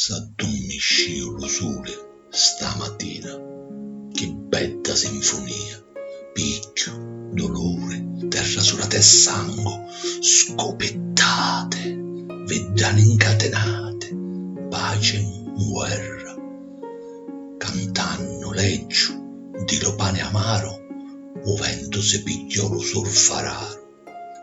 S'addummiscìu lu suli sta matina, chi bedda sinfunia, picchiu, duluri, terra sudata e sangu, scupittate, viddani ncatinati, paci 'nguerra, cantannu leggiu di lu pani amaru, u ventu si pigghiò lu surfararu.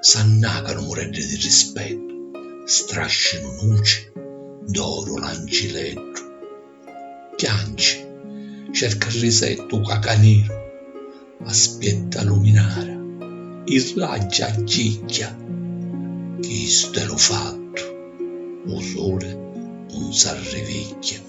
S'annacanu mureddi di rispettu, strascinu nuci d'oru l'ancileddu. Chianci, cerca risettu u cacaniru, aspietta luminara, i raggi aggigghia. Chistu è lu fattu, u suli un s'arrivigghia.